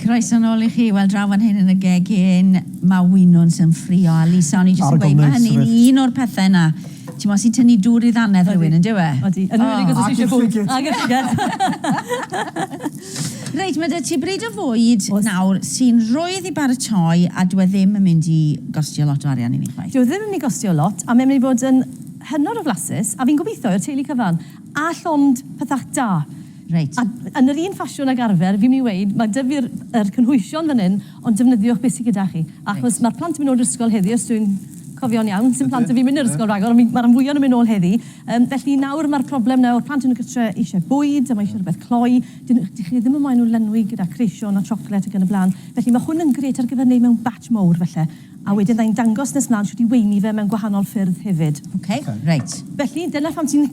Croeso yn ôl i chi. Wel, draw fan hyn yn y gegin, mae winwns yn ffrio. A Lisa, o'n i jyst yn gweud, mae hynny'n un o'r pethau yna ti'n mo, sy'n tynnu dŵr i ddannedd rhywun, yn dyw e? Odi, yn rhywun i gwrs eisiau bwyd. Ag y llygad. Reit, mae 'da ti bryd o fwyd nawr sy'n rwydd i baratoi a dyw e ddim yn mynd i gostio lot o arian i ni chwaith. Dyw e ddim yn mynd i gostio lot a mae'n mynd i fod yn hynod o flasus a fi'n gobeithio i'r teulu cyfan a llond pethau da. Reit. A yn yr un ffasiwn ag arfer, fi'n mynd i weud, mae 'da fi'r yr cynhwysion fan hyn ond defnyddiwch beth sy gyda chi achos mae'r plant yn mynd nôl i'r ysgol heddi os dwi'n cofio'n iawn, sim plant 'da fi'n mynd i'r ysgol ragor ond fi'n... mae'r rhan fwya' yn mynd nôl heddi. Yym, felly nawr mae'r problem nawr, plant yn y gytre eisiau bwyd a mae eisiau rhywbeth cloi, dyn- dych chi ddim yn moyn nhw lenwi gyda creision a chocolate ac yn y blaen, felly mae hwn yn grêt ar gyfer neud mewn batch mowr falle, a wedyn fydda i'n dangos nes mlan shwt i weini fe mewn gwahanol ffyrdd hefyd. Ok, reit. Felly dyna phan ti'n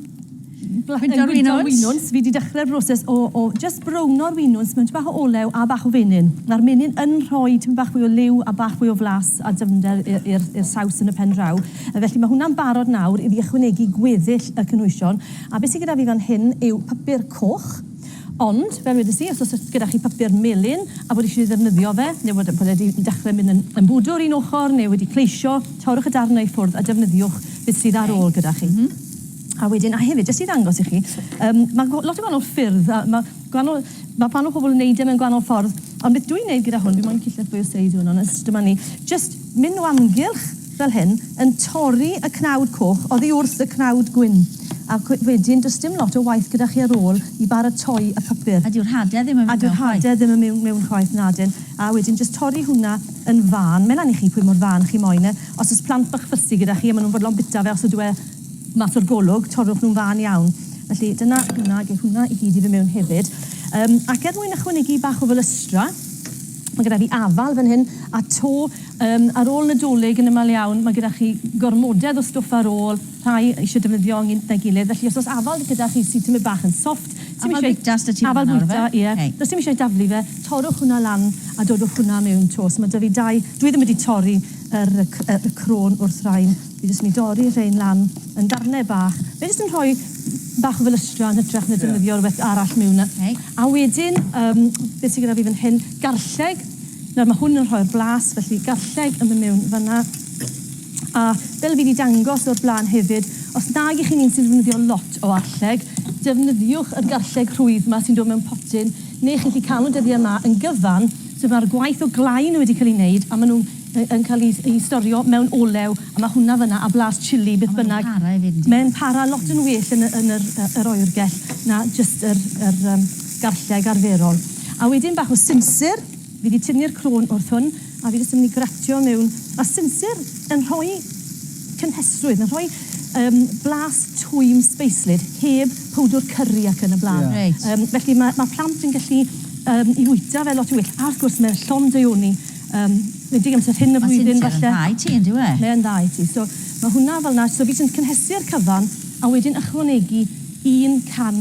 bla- yn gwydo'r winwns, fi 'di dechre'r broses o o jyst browno'r winwns mewn tipyn bach o olew a bach o fenyn, ma'r menyn yn rhoi tipyn bach fwy o liw a bach fwy o flas a dyfnder i i'r i'r saws yn y pen draw. Felly, mae hwnna'n barod nawr i fi ychwanegu gweddill y cynhwysion. A beth sydd gyda fi fan hyn yw papur coch. Ond, fel wedes i, os oes gyda chi papur melyn a bod eisiau ddefnyddio fe, neu bod bod e wedi dechrau mynd yn yn bwdwr un ochr neu wedi pleisio, torrwch y darnau i ffwrdd a defnyddiwch beth sydd ar ôl gyda chi. A wedyn, a hefyd, jyst i ddangos i chi, yym, mae lot o gwahanol ffyrdd, a mae gwahanol... mae gwahanol pobl yn wneud e mewn gwahanol ffordd, ond beth dwi'n wneud gyda hwn, fi moyn gallu lletchwilio seis hwn, ond jyst dyma ni, jyst mynd o amgylch, fel hyn, yn torri y cnawd coch oddi wrth y cnawd gwyn, a wedyn does dim lot o waith gyda chi ar ôl i baratoi y papur. A dyw'r hade ddim yn mynd mewn chwaith. A dyw'r hade ddim yn mynd mewn chwaith, nadyn. A wedyn jyst torri hwnna yn fân, mae lan i chi pwy mor fân chi moyn e. Os oes plant bach ffysi gyda chi a maen nhw'n fodlon bita fe os ydyw e mas o'r golwg, torrwch nhw'n fân iawn. Felly dyna hwnna, geith hwnna i gyd i fynd mewn hefyd. Yym, ac er mwyn ychwanegu bach o fylystra, Mae gyda fi afal fan hyn a to um, ar ôl Nadolig yn ymal iawn, mae gyda chi gormodedd o stwff ar ôl, rhai eisiau defnyddio yn gyda'i gilydd, felly os oes afal gyda chi sy'n tymud bach yn soft, afal bwyta sydd ti afal bwyta, ie, yeah. okay. does dim eisiau daflu fe, torwch hwnna lan a dodwch hwnna mewn to, so mae da fi dau, dwi ddim wedi torri yr, y, y, y crôn wrth rain. Fi jyst myn' i dorri rhein lan yn ddarne bach. Fe jyst yn rhoi bach o felystra'n hytrach na defnyddio rwbeth arall miwn na. Ok. A wedyn yym be' sy gyda fi fan hyn, garlleg. Nawr ma' hwn yn rhoi'r blas felly garlleg yn myn' miwn fan 'na. A fel fi 'di dangos o'r bla'n hefyd, os nag 'ych chi'n un sy'n ddefnyddio lot o arlleg, defnyddiwch yr garlleg rhwydd 'ma sy'n dod mewn potyn, ne' chi'n 'llu ca'l nw dyddie 'ma yn gyfan, so ma'r gwaith o glau nw wedi ca'l 'i neud a ma' nw'n yn cael ei storio mewn olew a mae hwnna fanna a blas chilli beth bynnag. Mae'n para hefyd. Mae'n para lot yn well yn y, yn yr, yr oergell na just yr, yr um, garlleg arferol. A wedyn bach o sinsir, fi wedi tynnu'r crôn wrth hwn a fi jyst yn mynd i gratio mewn. Mae sinsir yn rhoi cynhesrwydd, yn rhoi um, blas twym speislyd heb powdwr curry ac yn y blaen. Yeah. Right. Um, felly mae, mae plant yn gallu um, i fwyta fe lot o well. A wrth gwrs mae'r llond deuoni Yym, nid digon amser hyn y flwyddyn falle. Mae Cynthia yn dda i ti yn dyw e? Mae yn dda i ti. So, mae hwnna fel yna. So, fi sy'n cynhesu'r cyfan a wedyn ychwanegu un can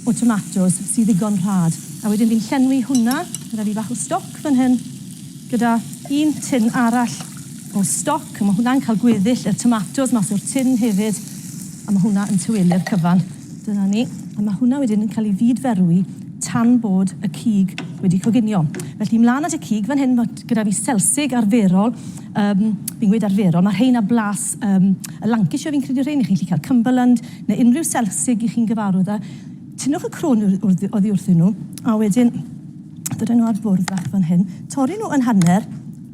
o tomatos sydd ddigon rhad. A wedyn fi'n llenwi hwnna gyda fi bach o stoc fan hyn gyda un tin arall o stoc. Mae hwnna'n cael gweddill y tomatos mas o'r tin hefyd a mae hwnna yn tawelu'r cyfan. Dyna ni. A mae hwnna wedyn yn cael ei fyd-ferwi tan bod y cig wedi coginio. Felly, mlaen at y cig. Fan hyn mae gyda fi selsig arferol. Um, fi'n gweud arferol, mae rheina blas um, y Lancashire fi'n credu rhein, i chi'n gallu cael Cumberland neu unrhyw selsig i chi'n gyfarwydd â. Tynnwch y crôn oddi wrthyn nhw, a wedyn dydyn nhw ar bwrdd fach fan hyn. Torri nhw yn hanner,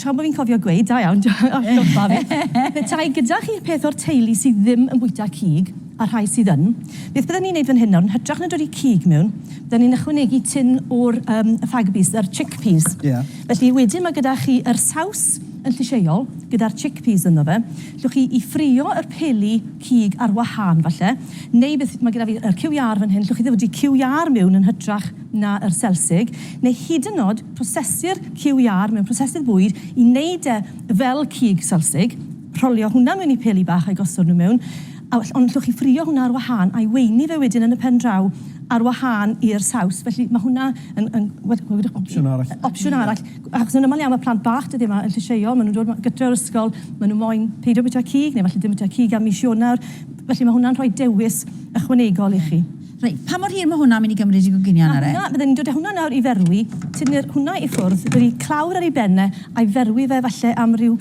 Tra bo fi'n cofio gweud, da iawn, atgoffa fi, petai gyda chi peth o'r teulu sydd ddim yn bwyta cig, a rhai sydd yn, beth bydden ni'n neud fan hyn nawr, yn hytrach na dodi cig mewn, bydden ni'n ychwanegu tin o'r yym y fag beans, yr chickpeas. Ie. Felly wedyn ma' gyda chi yr saws yn llysieuol, gyda'r chickpeas ynddo fe, llwch chi i ffrio yr peli cig ar wahân falle, neu beth, ma' gyda fi yr cyw iâr fan hyn, llwch chi ddodi cyw iâr miwn yn hytrach na yr selsig, neu hyd yn o'd, Prosesir QER mewn prosesydd bwyd i wneud e fel cig selsig, rholio hwnna mewn i peli bach a'i gosod nhw mewn, a well, ond allwch chi ffrio hwnna ar wahân a'i weini fe wedyn yn y pen draw ar wahân i'r saws, felly mae hwnna yn yn wel wel wed- opsiwn arall. Opsiwn arall, achos yn aml iawn mae plant bach dyddie yma yn llysieuol, maen nhw'n dod ma- gytre o'r ysgol, maen nhw moyn peidio bwyta cig, neu falle ddim bwyta cig am mis Ionawr, felly mae hwnna'n rhoi dewis ychwanegol i chi. Reit, pa mor hir mae hwnna'n mynd i gymryd i goginio yna de? Na, hwnna, bydden ni'n dod â hwnna nawr i ferwi, tynnu'r hwnna i ffwrdd, roi clawr ar ei ben e, a'i ferwi fe falle am ryw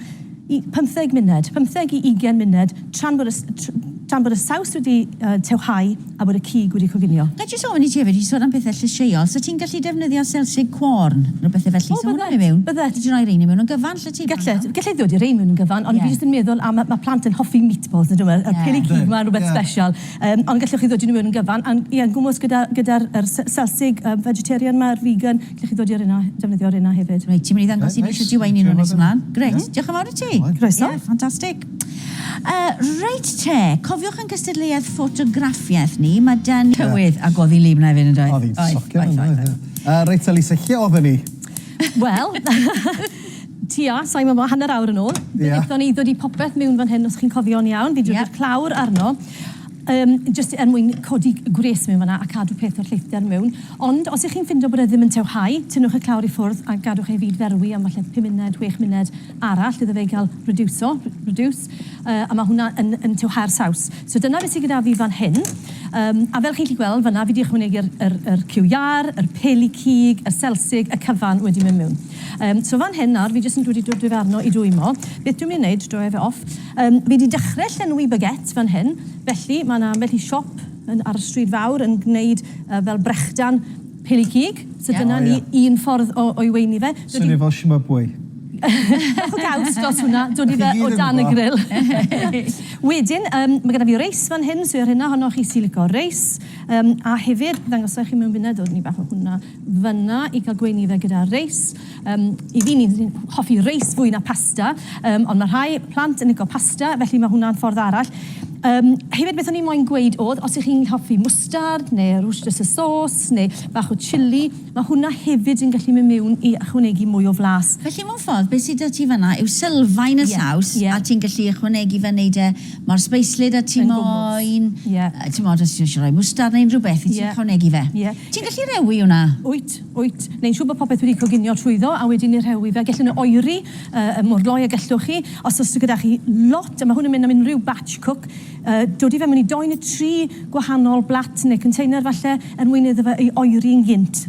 i- pymtheg munud, pymtheg i ugain munud, tra'n bod y s- tr- tra'n bod y saws wedi yy tewhau a bod y cig wedi coginio. Ga i jyst ofyn i ti hefyd, ti'n sôn am pethe llysieuol, 'set ti'n gallu defnyddio selsig cwôrn, neu bethe felly, 'sa hwnna'n mynd mewn? O, byddet, byddet. Ti 'di roi rein i mewn yn gyfan, 'llet ti? Gallet, gallai ddod i rein mewn yn gyfan, ond fi jyst yn meddwl am, ma' plant yn hoffi meatballs, yndyw e? Y peli cig 'ma yn rwbeth sbesial. Yym, ond gallwch chi ddod i nhw yn gyfan, a'n, ie, yn gwmws gyda, gyda'r, yr se- Selsig, yy, vegetarian 'ma, yr vegan, gallwch chi ddod i'r un 'na, defnyddio'r un 'na hefyd. Reit, ti'n mynd i ddangos i ni shwt i waenu nhw nes ymlaen? Grêt, diolch yn fawr i ti. Croeso. Ie, ffantastig. Yy, reit te, cofiwch ein cystadleuaeth ffotograffiaeth ni, ma' 'da ni... Tywydd, a godi liw 'na hefyd yndoedd? Oedd hi'n socian yndoedd? Yy, reit te Lisa, lle odden ni? Wel, Tua, sa i'n gwybod, hanner awr yn ôl, fe wnaethon ni ddod i popeth mewn fan hyn, os chi'n cofio'n iawn. Fi'n dod i'r clawr arno, yym, jyst er mwyn codi gwres mewn fan'na a cadw peth o'r lleithder mewn. Ond os 'y chi'n ffindo bod e ddim yn tewhau, tynnwch y clawr i ffwrdd a gadwch e i fyd-ferwi am falle pum munud, chwech munud arall iddo fe gael rediwso, reduce, a ma' hwnna yn yn tewhau'r saws. So dyna beth sy gyda fi fan hyn. Yym, a fel chi'n gallu gweld fan'na, fi 'di ychwanegu'r yr yr cyw iâr, yr peli cig, y selsig, y cyfan wedi mynd mewn. Yym, so fan hyn nawr, fi jyst yn dod i dod i'r arno i dwymo. Beth dwi'n mynd i wneud, draw efe off. Yym, fi wedi dechrau llenwi baguette fan hyn, felly mae yna ambell i siop yn, ar y stryd fawr yn gwneud uh, fel brechdan peli cig, so yeah. dyna oh, ni yeah. un ffordd o, o'i weini fe. Swnio fel Shimabwe. Bach o gaws dros hwnna, dod i fe o dan y grill. Wedyn, um, mae gyda fi reis fan hyn, so ar hynna honno chi sy'n licio reis. Um, a hefyd, ddangos chi mewn funud, dod ni bach o hwnna. fanna i cael gweinyddau gyda reis. Um, I fi, ni'n hoffi reis fwy na pasta, um, ond mae rhai plant yn licio pasta, felly mae hwnna'n ffordd arall. Um, hefyd, beth o'n i'n moyn gweud oedd, os ych chi'n hoffi mwstard neu rwsters y sos neu bach o chili, mae hwnna hefyd yn gallu mynd mewn i ychwanegu mwy o flas. Felly, mewn ffordd, beth sydd â ti fanna yw sylfaen y yeah, saws yeah. a ti'n gallu ychwanegu fe, wneud e Mae'r sbeislyd a ti moyn... Ie. ...timod, os ti eisiau rhoi mwstard neu unrhyw beth, ti'n ychwanegu fe. Ie. Ti'n gallu rewi hwnna? Wyt, wyt. Neu'n siŵr bod popeth wedi coginio trwyddo a wedyn ni rewi fe. Gellwn ni oeri mor gloi a gellwch chi. Os oes gyda chi lot, a mae hwn yn mynd am unrhyw batch cook, dodi fe mewn i dou neu tri gwahanol blat neu container falle, er mwyn iddo fe ei oeri'n gynt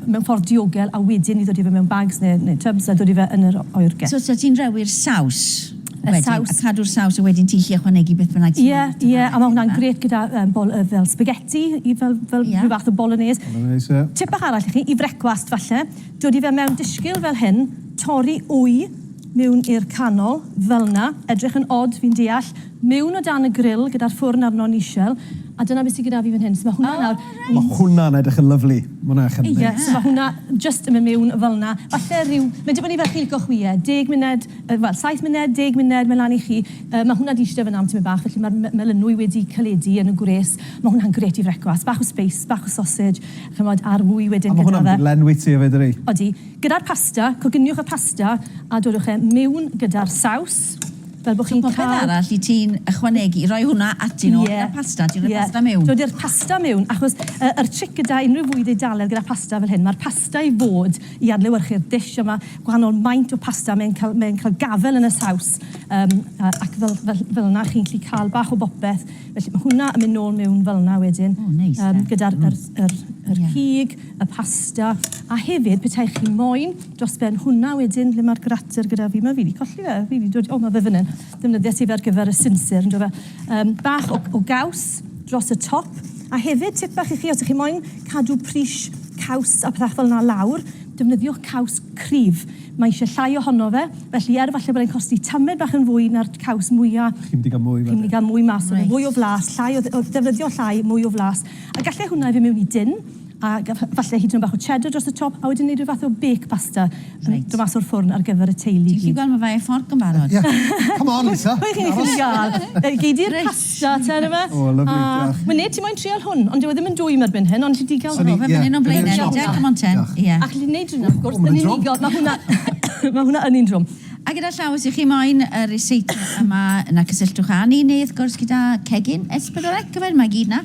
mewn ffordd diogel a wedyn i ddodi fe mewn bags neu tubs a dodi fe yn yr oergell. So ti'n rewi'r saws? y saws. A cadw'r saws a wedyn ti'n gallu ychwanegu beth bynnag ti'n moyn. Ie, ie, a ma' hwnna'n grêt gyda yym bol- yy fel spaghetti i fel fel... Ie. ...rhyw fath o bolonaise. Bolonaise, ie. Tip bach arall i chi, i frecwast falle, dodi fe mewn dishgil fel hyn, torri wy miwn i'r canol, fel 'na, edrych yn od fi'n deall, miwn o dan y gril gyda'r ffwrn arno nishel, a dyna be sy gyda fi fan hyn. So ma' hwnna nawr... O reit. Ma' hwnna'n edrych yn lyfli. Ma' hwnna'n edrych yn neis. Ie, so ma' hwnna jyst yn myn' miwn fel 'na. Falle ryw, ma'n dibynnu fel chi'n lico chwi e, deg munud, wel, saith munud, deg munud, mae'n lan i chi. Yy, ma' hwnna 'di ishte fan'na am tymed bach, felly ma'r me- melynwy wedi caledu yn y gwres. Ma' hwnna'n grêt i frecwast. Bach o speis, bach o sausage, ch'mod, a'r ŵy wedyn gyda fe. A ma' hwnna'n mynd i lenwi ti efyd, ydi? Odi. Gyda'r pasta, coginiwch y pasta a dodwch e mewn gyda'r saws, fel bo' chi'n ca'l... So popeth arall i ti'n ychwanegu, roi hwnna ati nôl... Ie. ...gyda'r pasta, ti'n rhoi pasta mewn? Ie. Dod â'r pasta mewn, achos yy yr tric gyda unryw fwyd Eidalaidd gyda phasta fel hyn, ma'r pasta i fod I adlewyrchu'r dish yma, gwahanol maint o pasta, mae'n cael, mae'n cael gafel yn y saws, um, ac fel, fel, fel yna chi'n gallu cael bach o bopeth. Felly mae hwnna yn mynd nôl mewn fel yna wedyn, oh, nice, um, gyda'r yr, yr, yr yeah. cig, y pasta, a hefyd petai chi moyn dros ben hwnna wedyn, lle mae'r grater gyda fi, mae fi wedi colli fe, fi wedi dod, o mae fe fan hyn. Defnyddiais hi fe ar gyfer y sinsir, yndyw e? Yym, bach o, o gaws dros y top. A hefyd, tip bach i chi, os ych chi moyn cadw pris caws a pethach fel 'na lawr, defnyddiwch caws cryf. Mae eisiau llai ohono fe, felly er falle bod e'n costi tamed bach yn fwy na'r caws mwya', chi'n mynd i gael mwy, chi'n mynd i gael mwy mas o fe, mwy o flas, llai o, o ddefnyddio llai, mwy o flas. A gallai hwnna i fy' mewn i dun, A falle hyd yn oed bach o cheddar dros y top, a wedyn wneud rhyw fath o bake pasta yn dod mas o'r ffwrn ar gyfer y teulu i gyd. Ti'n gallu gweld ma' fe ar fforc yn barod. Ie. Come on Lisa. Pwy chi'n gallu ga'l? Yy gei di'r pasta te yn y fe. O lyfli, diolch. A ma' neb 'di moyn trial hwn, ond dyw e ddim yn dwym erbyn hyn, ond ti digon gro- Ie. Fe fynny nw blaen eto te, come on te. Diolch. Ie. Ac ni'n neud hwnna wrth gwrs yn unigol, ma' hwnna ma' hwnna yn un drwm. A gyda llaw os 'ych chi moyn y receipt yma yna cysylltwch â ni neu wrth gwrs gyda cegin S4C yfe, mae gyd 'na.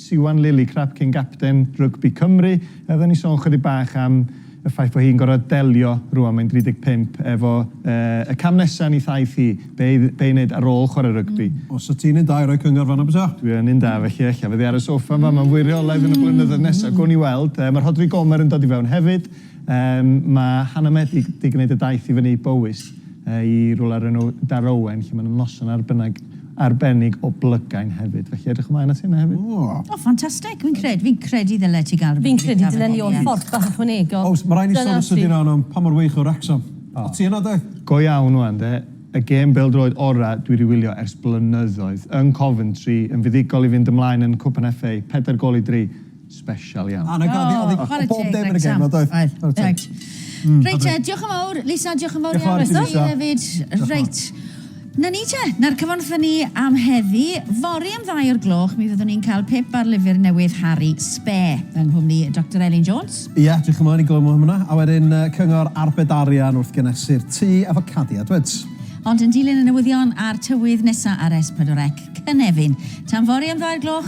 Siwan Lillicrap, cyn-gapten rygbi Cymru. Yy fydden ni'n sôn chydig bach am y ffaith fo hi'n gor'o' delio, rŵan mae'n 35, efo yy y cam nesa yn 'i thaith hi, be' i dd- be' i neud ar ôl chware rygbi. Os wt ti'n un da i roi cyngor fan'na bysa? Dwi yn un da felly ella fydd 'i ar y soffa yn fama yn fwy rheolaidd yn y blynyddoedd nesa. Gown ni weld. Yy ma' Rhodri Gomer yn dod i fewn hefyd. Yym, mae Hannah Medi 'di gwneud y daith i fyny i Bowys, i rywle o'r enw Darowen, lle mae 'na noson arbennig, arbennig o blygain hefyd. Felly, edrych ymlaen at hynna hefyd. O! O, ffantastig! Fi'n cred- fi'n credu ddyle ti gael rywbeth i fita fan hyn, ie. Fi'n credu dylen ni oll fforc bach ychwanegol. Oes, ma' raid ni sôn yn sydyn iawn am pa mor wych o Wrecsam. O. O't ti yna, de? Go iawn ŵan, de. Y gêm bêl-droed ora' dwi 'di wylio ers blynyddoedd. Yn Coventry, yn fuddugol i fynd ymlaen yn Cwpan FA, pedair gôl i dri. Special iawn. O, 'na gad fi, o'dd 'i... Chware teg, Greg, tam. O'dd bob dim yn y gêm 'ma, doedd? Oedd, oedd. Chware teg. Hmm. Reit te, diolch yn fawr, Lisa, diolch yn fawr iawn... Diolch yn fawr i ti, Lisa. ...i ti hefyd. Reit. 'Na ni te, 'na'r cyfan wrthon ni am heddi. Fory am ddau o'r gloch, mi fyddwn ni'n cael pip ar lyfr newydd Harri Spare, yng nghwmni Doctor Elin Jones. Ia, edrych ymlaen i glywed mwy am hwnna. A wedyn yy cyngor arbed arian wrth genesu'r tŷ efo Cadi Edwards. Ond yn dilyn y newyddion a'r tywydd nesa ar S4C, cynefin. Tan fory am ddau'r gloch.